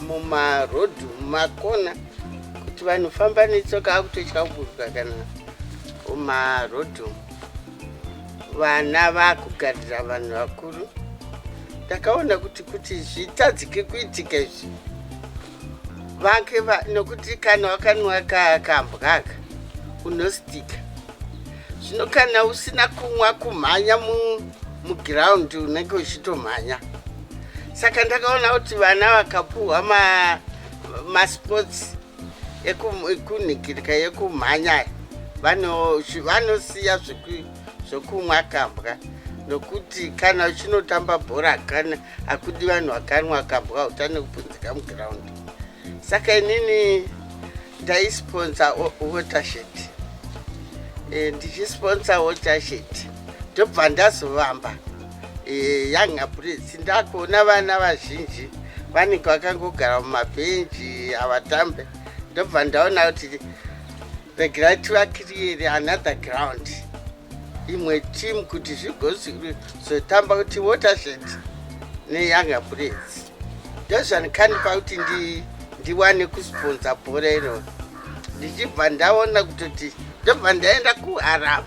mumarodhu mumakona kuti vanhu famba netsoka akutotya kuburuka kana mumarodhu vana vakugarira vanhu vakuru ndakaona kuti kuti zvitadzike kuitika izvi vake nokuti kana wakanwa kakambwaka unostika zvino kana usina kunwa kumhanya mugiraundi unenge uchitomhanya saka ndakaona kuti vana vakapuhwa masports ekunhikirika yekumhanya vanosiya zvekumwa kambwa nokuti kana uchinotamba bhora kana hakudi vanhu vakanwa kambwa hautane kupunzika mugiraundi saka inini ndaisponsa watershed e, ndichisponsa watershed ndobva ndazovamba Eh, yanga prince ndakuona vana vazhinji vanenge vakangogara mumabhenji havatambe ndobva ndaona kuti regerai tivakiriyeri another ground imwe team kuti zvigozotamba kuti watershed neyanga prince ndozvanikandipa kuti ndiwane kusponsa bhora iro ndichibva ndaona kutoti ndobva ndaenda kuharamu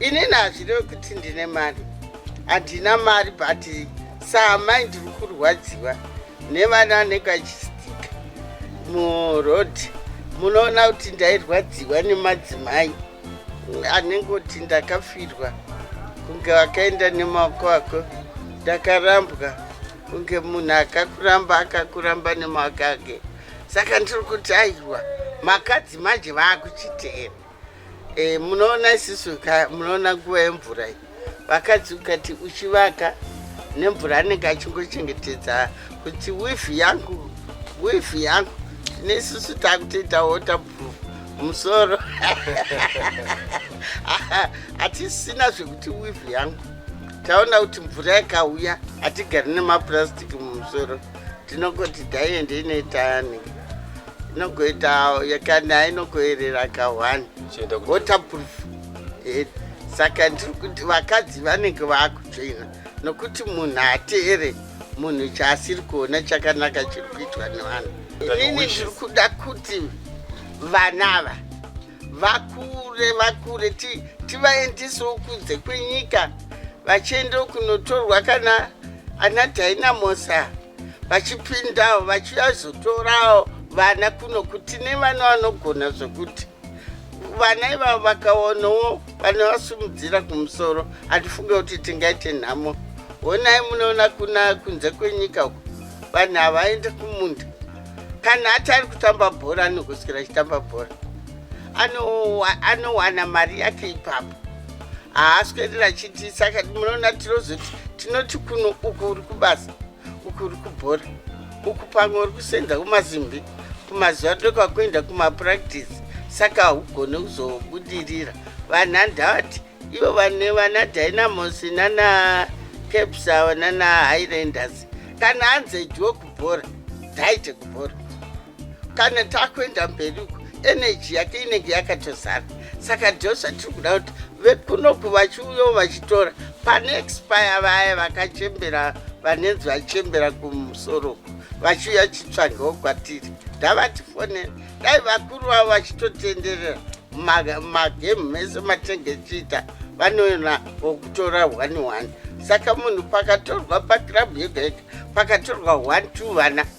inini hazvirevi kuti ndine mari handina mari but saamai ndiri kurwadziwa nevana vanenge vachistika muroad munoona kuti ndairwadziwa nemadzimai anenge kuti ndakafirwa kunge vakaenda nemaoko ako ndakarambwa kunge munhu akakuramba akakuramba nemaoko ake saka ndiri kuti aiwa makadzi manje vaakuchiteera E, munoona isisu munoona nguva yemvura iyi vakadzi ukati uchivaka nemvura anenge achingochengetedza kuti wifi yangu wifi yangu tine isusu takutoita waterproof musoro hatisina zvekuti wifi yangu taona kuti mvura yakauya hatigari nemapurastic mumusoro tinongoti daiende inoita yanenge inogoita yakani ainogoerera ka one waterproof eh, saka ndiri kuti vakadzi vanenge vaakutsvina nokuti munhu hateere munhu chaasiri kuona chakanaka chiri kuitwa nevanhu inini ndiri kuda kuti vana ava vakure vakure tivaendisewo kunze kwenyika vachiendewo kunotorwa kana ana dynamosa vachipindawo vachiyazotorawo vana kuno kuti nevana vanogona zvokuti vana ivavo vakaonawo vanovasimudzira kumusoro hatifunge kuti tingaite nhamo honai munoona kuna kunze kwenyika uko vanhu havaende kumunda kana ati ari kutamba bhora anogoswera achitamba bhora anowana mari yake ipapo haaswerera chiti saka munoona tinozoti tinoti kuno uku uri kubasa uku uri kubhora uku pamwe uri kusenza kumazimbi kumazuva toka kuenda kumapractice saka haugone kuzobudirira vanhu handavati ivo vane vana dynamos nana caps ava nana highlanders kana anzi edyiwo kubhora dzaite kubhora kana takuenda mberi uko eneji yake inenge yakatozara saka ndo zvatiri kuda kuti vekunoku vachiuyawo vachitora pane expire vaya vakachembera vanenzi vachembera kumusoro vachiuya chitsvangewo kwatiri ndavatifonera dai vakuru vavo vachitotenderera magemu mese matenge chiita vanoona wokutora one one saka munhu pakatorwa pakirabhu yega yega pakatorwa one two vana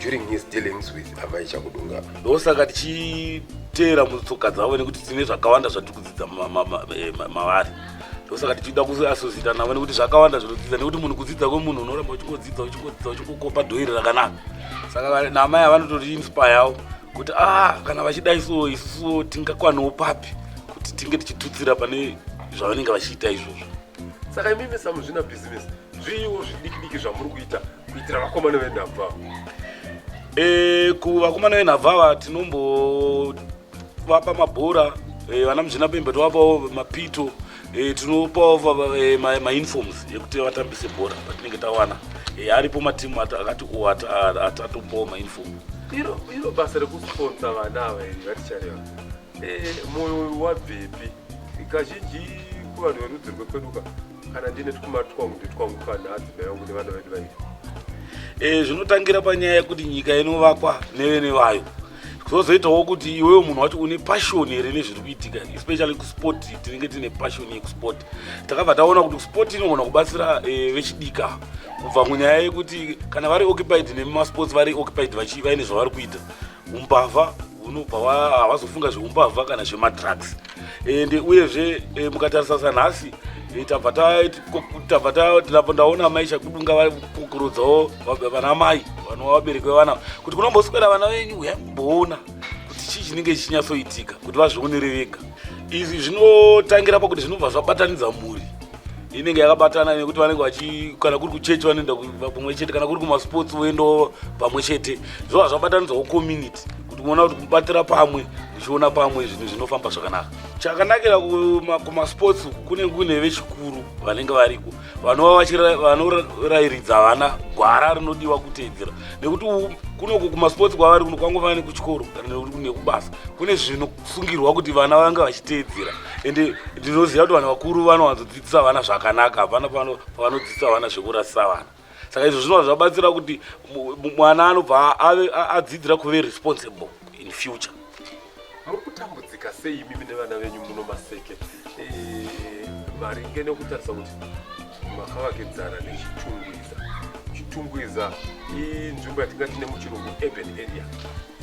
during his dealings with amai chakudunga ndosaka tichiteera mutsoka dzavo nekuti tine zvakawanda zvatiri kudzidza eh, mavari ndosaka tichida kuasosita navo nekuti zvakawanda zvinodzidza nekuti munhu kudzidza kwemunhu unoramba uchingodzidza uchingodzidza uchingokopa dhoiri rakanaka saka namai avanototi inspireo kuti ah kana vachidai so isusuwo tingakwaniwo papi kuti tinge tichitutsira pane zvavanenge vachiita izvozvo saka imimi samuzvina bhizinesi zviiwo zvidikidiki zvamuri kuita kuitira vakomana venhabvu ava e, kuvakomana venhabvu ava tinombovapa mabhora e, vana muzvina pembe tovapawo mapito e, tinopawo e, mainforms ma ekuti vatambise bhora patinenge tawana e, aripo matimu akati o atatopawo mainform iro iro basa rekusponsa vana ava iri vatichareva e, moyo wabvepi kazhinji kuvanhu verudzi rwekweduka kana ndine twuma twangu nditwangu twana adzimai yangu nevana vedu vairi e, zvinotangira panyaya yekuti nyika inovakwa nevene vayo zvozoitawo kuti iwewo munhu wacho une passion here nezviri kuitika especially kusport tinenge tine passion yekusport takabva taona kuti sport inogona kubatsira e, vechidika kubva munyaya yekuti kana vari occupied nemumasports vari occupied vaine zvavari kuita umbavha unobva havazofunga zveumbavha kana zvemadrugs and uyezve eh, mukatarisa sanhasi eh, tabva ndaona amai chakudunga vari kukurudzao vana mai vanova vabereki vevana kuti kunomboswera vana venyu uya kumboona kuti chii chinenge chichinyatsoitika kuti vazvionere vega izvi zvinotangira pakuti zvinobva zvabatanidza mhuri inenge yakabatana nekuti vanenge vachi kana kuri kuchechi vanoenda pamwe chete kana kuri kumasports voendawo pamwe chete zvova zvabatanidzwawo community kuti kuona kuti kubatira pamwe ndichiona pamwe zvinhu zvinofamba zvakanaka chakanakira kumasports kuma kunenge kune vechikuru vanenge variko vanova vanorairidza vana gwara rinodiwa kuteedzera nekuti kunoku kumasports kwavari kuno kwangofanira nekuchikoro kana nekuti kune kubasa kune zvinosungirwa kuti vana vange vachiteedzera ende ndinoziva kuti vanhu vakuru vanowanzodzidzisa vana zvakanaka hapana pavanodzidzisa vana zvekurasisa vana saka izvo zvinova zvabatsira kuti mwana anobva adzidzira kuve responsible in future muri kutambudzika sei imimi nevana venyu muno maseke eh, maringe nekutarisa kuti makavakidzana nechitungwiza chitungwiza inzvimbo yatingati nemuchirungu urban area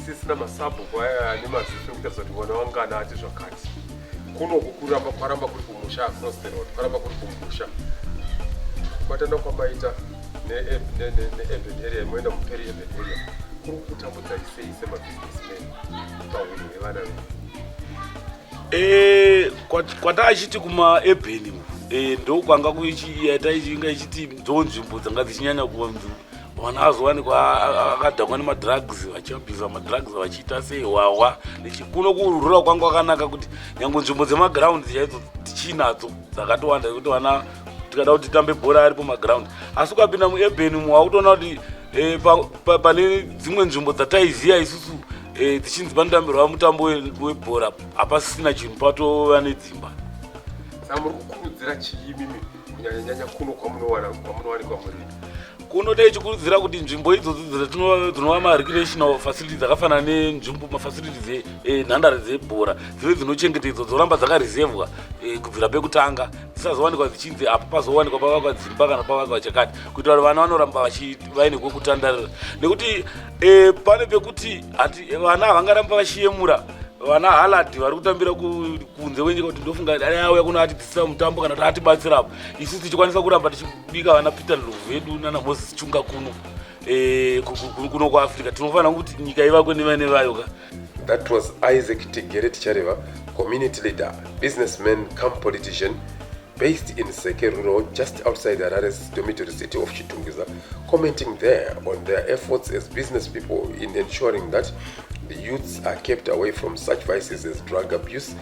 sisina masabhuku aya ane maziso ekutarisa kuti mwana wangu kana ati zvakati kunoku kuramba kwaramba kuri kumusha across the road kwaramba kuri kumusha kubatana kwamaita neurban area imoenda muperi urban area kuri kutambudza isei semabusinessman pahunhu hwevana vedu eh, kwataachiti kumaebheni eh, ndokwanga kuichiita ichinga ichiti ndonzvimbo dzanga dzichinyanya kuva mwana azowanikwa akadhakwa nemadrugs vachiabhiza madrugs vachiita sei hwahwa kuno kurura kwanga kwakanaka kuti nyange nzvimbo dzemaground chaidzo tichinadzo dzakatowanda kuti vana tikada kuti titambe bhora aripo maground asi ukapinda mueben mu wakutoona kuti eh, pane dzimwe nzvimbo dzataiziva isusu eh, tichinzi panotambirwa mutambo webhora hapasisina chinhu patova nedzimba samuri kukurudzira chiimimi kunyanyanyanya kuno kwamunowana kwamunowanikwa muri kuno taichikurudzira kuti nzvimbo idzodzi dzinova marecreational facility dzakafanana nenzvimbo mafacility enhandare eh, dzebhora dzive dzinochengetedzwa dzoramba dzakaresevhwa eh, kubvira pekutanga dzisazowanikwa dzichinzi apo pazowanikwa pavakwa dzimba kana pavakwa chakati kuitira kuti vana vanoramba vaine kwekutandarira nekuti eh, pane pekuti vana havangaramba vachiyemura vana halad vari kutambira kunze kwenyika kuti ndofunga dai auya kuno ati Sina mutambo kana kuti atibatsira apo isu tichikwanisa kuramba tichibika vana Peter Ndlovu vedu nana Moses Chunga kuno eh, ku- ku- ku- kuno kuAfrica tinofanira kuti nyika ivakwe nevane vayo ka That was Isaac Tigere Tichareva, community leader, businessman, come politician, based in Seke Rural, just outside Harare's dormitory city of Chitungiza, commenting there on their efforts as business people in ensuring that the youths are kept away from such vices as drug abuse,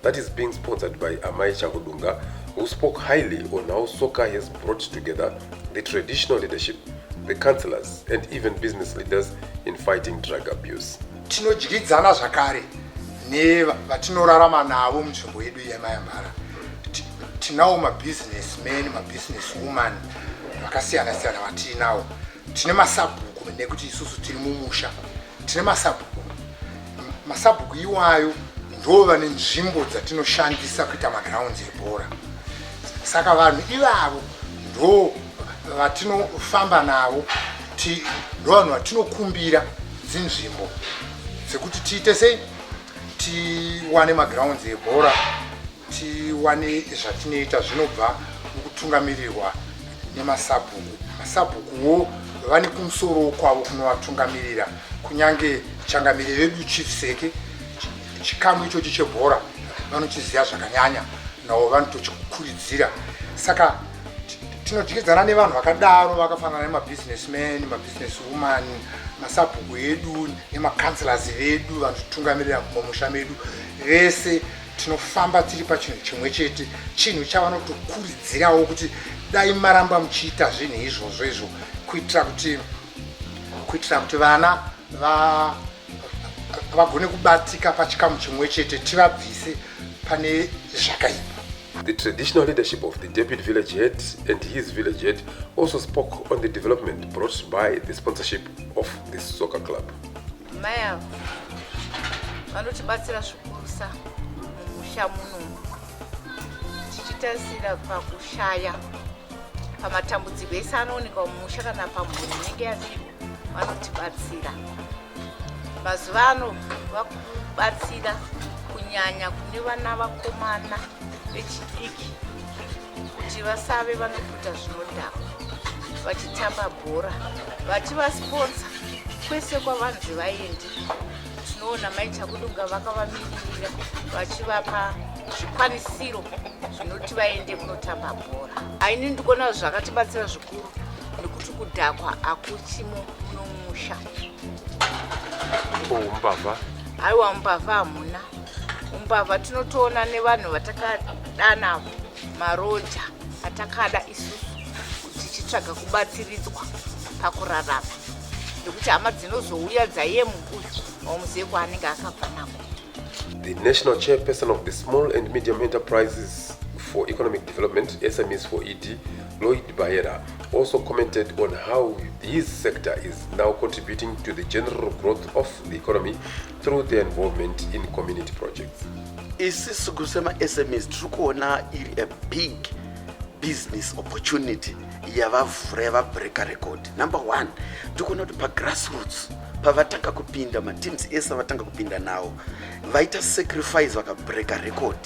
that is being sponsored by Amai Chakudunga, who spoke highly on how soccer has brought together the traditional leadership, the councillors, and even business leaders in fighting drug abuse. tinodyidzana zvakare nevatinorarama navo munzvimbo yedu yemayambara tinawo mabusiness men mabusiness woman vakasiyana siyana vatiinawo tine masabhuku nekuti isusu tiri mumusha tine masabhuku masabhuku iwayo ndo vane nzvimbo dzatinoshandisa kuita magrounds ebhora saka vanhu ivavo ndo vatinofamba navo ndo vanhu vatinokumbira dzinzvimbo dzekuti tiite sei tiwane magrounds ebhora tiwane zvatinoita zvinobva mukutungamirirwa nemasabhuku masabhukuwo vane kumusoro kwavo kunovatungamirira kunyange changamire vedu chief seke chikamu ichochi chebhora vanochiziva zvakanyanya navo vanotochikuridzira saka tinodyidzana nevanhu vakadaro vakafanana nemabhizinesman mabusiness woman masabhuku edu nemacouncelors vedu vanotitungamirira mumamusha medu vese tinofamba tiri pachinhu chimwe chete chinhu chavanotokuridzirawo kuti dai maramba muchiita zvinhu izvozvo izvo kuitira kuti kuitira kuti vana vagone va, kubatika pachikamu chimwe chete tivabvise pane zvakaipa The traditional leadership of the Deputy Village Head and his village head also spoke on the development brought by the sponsorship of this soccer club. Mai ava vanotibatsira zvikurusa mumusha muno tichitarisira pakushaya pamatambudziko ese anooneka mumusha kana pamhuri inenge yaviri vanotibatsira mazuva ano vakubatsira kunyanya kune vana vakomana vechidiki kuti vasave vanokuta zvinodhakwa vachitamba bhora vachivasponsa kwese kwavanzi vaendi tinoona mai chakudunga vakavamiririra vachivapa zvikwanisiro zvinoti vaende kunotamba bhora aini ndikuona zvakatibatsira zvikuru nekuti kudhakwa akuchimo unomusha umbavha aiwa umbavha hamuna umbavha tinotoona nevanhu vatakadana maroja atakada isusu tichitsvaga kubatsiridzwa pakurarama nekuti hama dzinozouya dzaiye mukuyu wamuzive kwaanenge akabva nako the national chairperson of the small and medium enterprises for economic development smes for ed lloyd baera also commented on how his sector is now contributing to the general growth of the economy through their involvement in community projects isisu kusemasms tiri kuona iri a big business opportunity yavavhura yavabreaker record number one tikuona kuti pagrassroots pavatanga kupinda mateams ese avatanga kupinda nawo vaita sacrifice vakabreaker record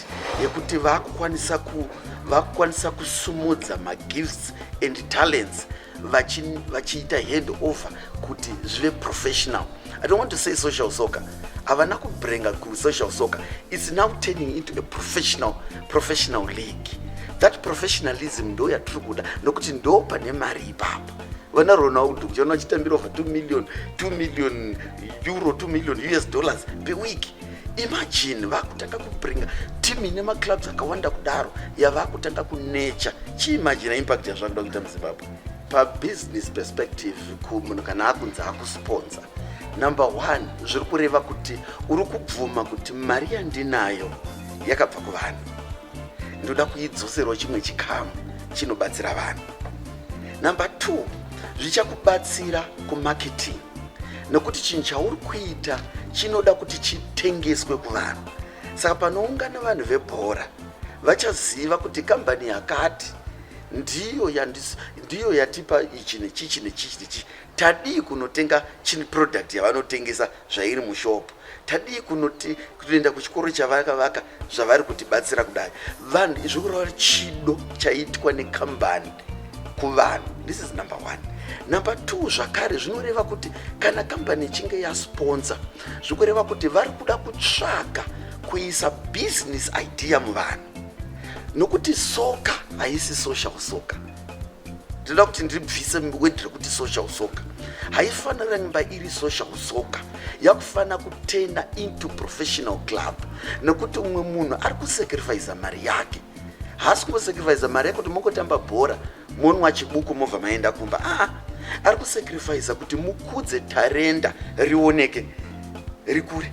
yekuti vakukwanisa ku vakukwanisa kusumudza magifts and talents vachiita vachi hand over kuti zvive professional I don't want to say social soccer. Havana kubrenga ku social soccer. It's now turning into a professional, professional league. That professionalism ndo yatiri kuda nokuti ndo pane mari ipapo. Vana Ronaldo kuchiona vachitambira over 2 million, 2 million euro, 2 million US dollars per week. Imagine vakutanga kubringa team ine maclubs akawanda kudaro yavakutanga kunecha. Chiimagina impact yazvakuda kuita muZimbabwe. pabusiness perspective munhu kana akunzi akusponsa number one zviri kureva kuti uri kubvuma kuti mari yandinayo yakabva kuvanhu ndoda kuidzoserwa chimwe chikamu chinobatsira vanhu number two zvichakubatsira kumarketing nokuti chinhu chauri kuita chinoda kuti chitengeswe kuvanhu saka panoungana vanhu vebhora vachaziva kuti kambani yakati ndiyo yandis, ndiyo yatipa ichi nechichi nechichi nechichi tadii kunotenga chini product yavanotengesa zvairi mushopu tadii kunoti kutoenda kuchikoro chavakavaka zvavari kutibatsira kudai vanhu izvi kurava chido chaitwa nekambani kuvanhu this is number one number two zvakare zvinoreva kuti kana kambani ichinge yasponsa zvikureva kuti vari kuda kutsvaga kuisa business idea muvanhu nokuti soka haisi social soka ndinoda kuti ndibvise word rekuti social soka haifanira nyimba iri social soka yakufanira kutenda into professional club nekuti umwe munhu ari kusacrifice mari yake haasi kungosacrifice mari yekuti mongotamba bhora monwa chibuku mobva maenda kumba aa ari kusacrifice kuti mukudze tarenda rioneke rikure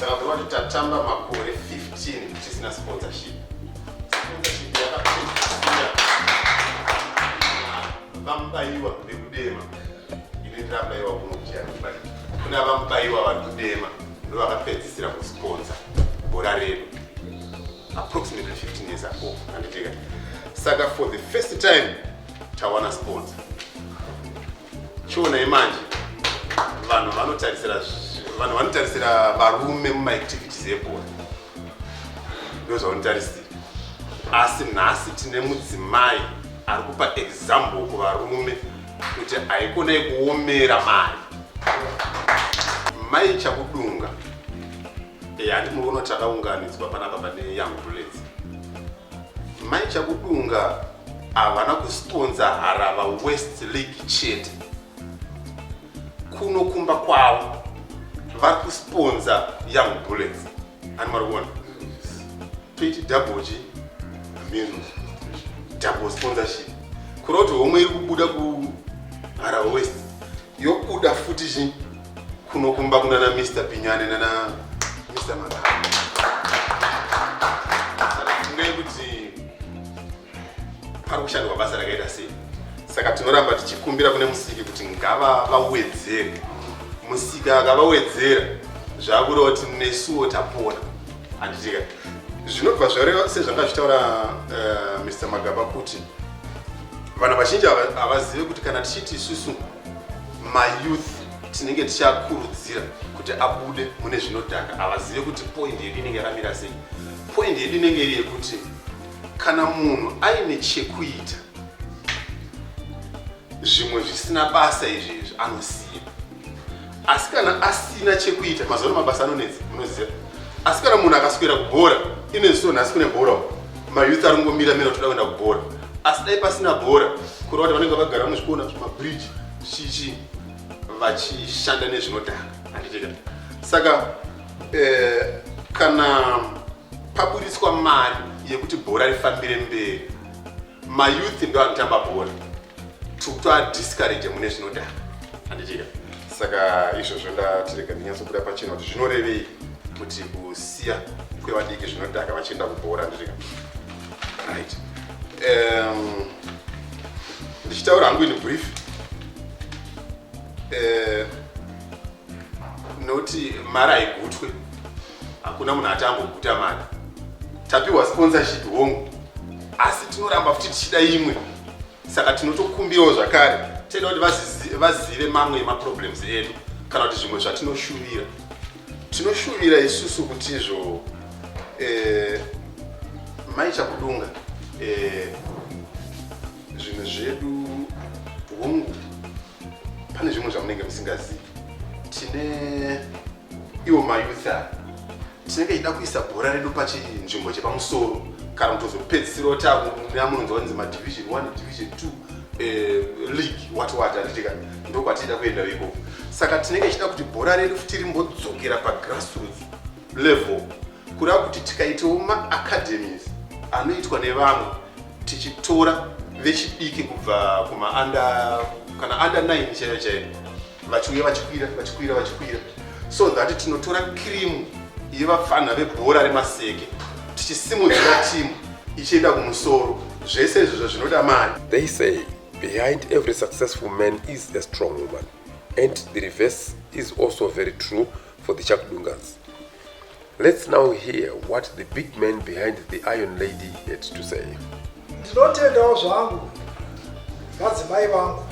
Saka tinoona kuti tatamba makore 15 tisina sponsorship. Sponsorship yakapedzisira vamubaiwa vekudema inoitira vamubaiwa kunobvira kuna vamubaiwa vari kudema ndovakapedzisira kusponsa bhora redu approximately 15 years ago anditeka saka for the first time tawana sponsor chionai manje vanhu vanotarisira vanhu vanotarisira varume mumaactivities ebhora ndozvavanotarisira asi nhasi tine mudzimai ari kupa example kuvarume kuti haikona ikuomera mari mai chakudunga e handimuri unotaunganidzwa panapa pane young bullets Mai Chakudunga havana kusitonza Harava West League chete. Kuno kumba kwavo vari kusiponza Young Bullets. Ani mwari kuona? Toiti double chi? Means double sponsorship. Kuroti homwe iri kubuda ku Harava West yokuda futi chi? kuno kumba kunana Mr Pinyane nana Mr Magara fungai kuti pari kushandwa basa rakaita sei saka tinoramba tichikumbira kune musiki kuti ngava vawedzere musika akavawedzera zvakureva kuti nesuwo tapona handitika zvinobva zvareva sezvanga zvitaura uh, eh, mr magaba kuti vanhu vazhinji havazive kuti kana tichiti isusu mayouth tinenge tichakurudzira kuti abude mune zvinodhaka havazive kuti point yedu inenge yakamira sei point yedu inenge iri yekuti kana munhu aine chekuita zvimwe zvisina basa izvi izvi anosiya asi kana asina chekuita mazuva mabasa anonetsa munoziva asi kana munhu akaswera kubhora inezviso nhasi kune bhora mayouth ari kungomira mira toda kuenda kubhora asi dai pasina bhora kureva kuti vanenge vagara muzvikona zvemabridge chichi vachishanda nezvinodhaka handitika saka eh, kana paburitswa mari yekuti bhora rifambire mberi mayouth ndo anotamba bhora tokutoadiscourage mune zvinodhaka handitika saka izvozvo ndatirega ndinyatsobuda pachena kuti zvinorevei kuti kusiya kwevadiki zvinodhaka vachienda kubhora handitika right um, ndichitaura hangu ini brief uh, noti mari haigutwe hakuna munhu ati amboguta mari tapiwa sponsorship hongu asi tinoramba futi tichida imwe saka tinotokumbirawo zvakare tenda kuti vazive mamwe emaproblems edu kana kuti zvimwe zvatinoshuvira tinoshuvira isusu kuti izvo eh, maichakudunga eh, Zvinhu zvedu hongu pane zvimwe zvamunenge musingazivi. Tine iwo mayouth aya tinenge tichida kuisa bhora redu pachinzvimbo chepamusoro kana kutozopedzisirawo tamunonzwa kunzi madivision one division two eh, league what what handitika ndokwatichida kuenda ikoko saka tinenge tichida kuti bhora redu futi rimbodzokera pagrassroots level kureva kuti tikaitawo maacademies anoitwa nevamwe tichitora vechidiki kubva kumaanda kana anda 9 chaiyo chaiyo vachiuya vachikwira vachikwira vachikwira so that tinotora kirimu yevapfanha vebhora remaseke tichisimudzira timu ichienda kumusoro zvese izvozvo zvinoda mari they say behind every successful man is a strong woman and the reverse is also very true for the chakudungas let's now hear what the big man behind the iron lady had to say ndinotendawo zvangu vadzimai vangu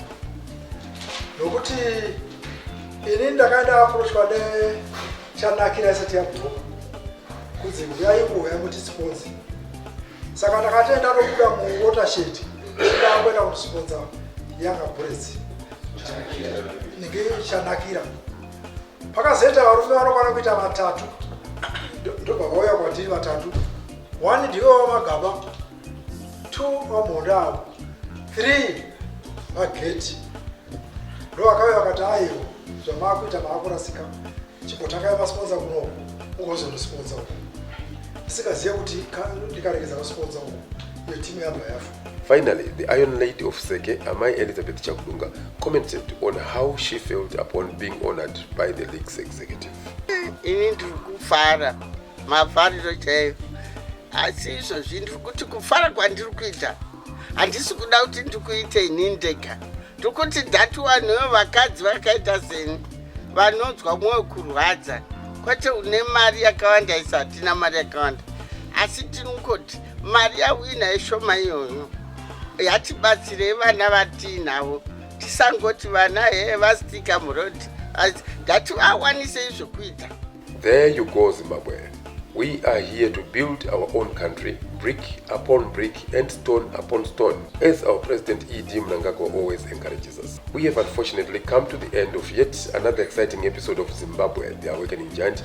nokuti ini ndakaenda aprochwa nechanakira isati yabhoo kunzi huyai kuuya mutisiponzi saka ndakatenda nokuda muwatershed chidakwenda kutisiponza yanga buretsi ndinge chanakira pakazoita varume vanokwana kuita vatatu ndobva vauya kwatiri vatatu one ndiwe wamagaba two wamhonda avo three vageti ndo vakauya vakati aiwo zvamaakuita maakurasika chimbotangai masponza kunoku ugozonosponza uku ndisingazive kuti ndikaregedza kusponza uku iyo timu yabva yafa Finally, the Iron Lady of Seke, Amai Elizabeth Chakudunga, commented on how she felt upon being honored by the league's executive. Ini ndiri kufara mafariro chaiyo asi izvozvi ndiri kuti kufara kwandiri kuita handisi kuda kuti ndikuite ini ndega ndiri kuti dhati wanhuyo vakadzi vakaita seni vanonzwa mwoyo kurwadza kwete une mari yakawanda isatina mari yakawanda asi tinongoti mari yawina ishoma iyoyo yatibatsirei vana vatiinavo tisangoti vana he vasitika murodi ngativawanisei zvokuita there you go zimbabwe we are here to build our own country brick upon brick and stone upon stone as our president ed mnangagwa always encourages us we have unfortunately come to the end of yet another exciting episode of zimbabwe the awakening giant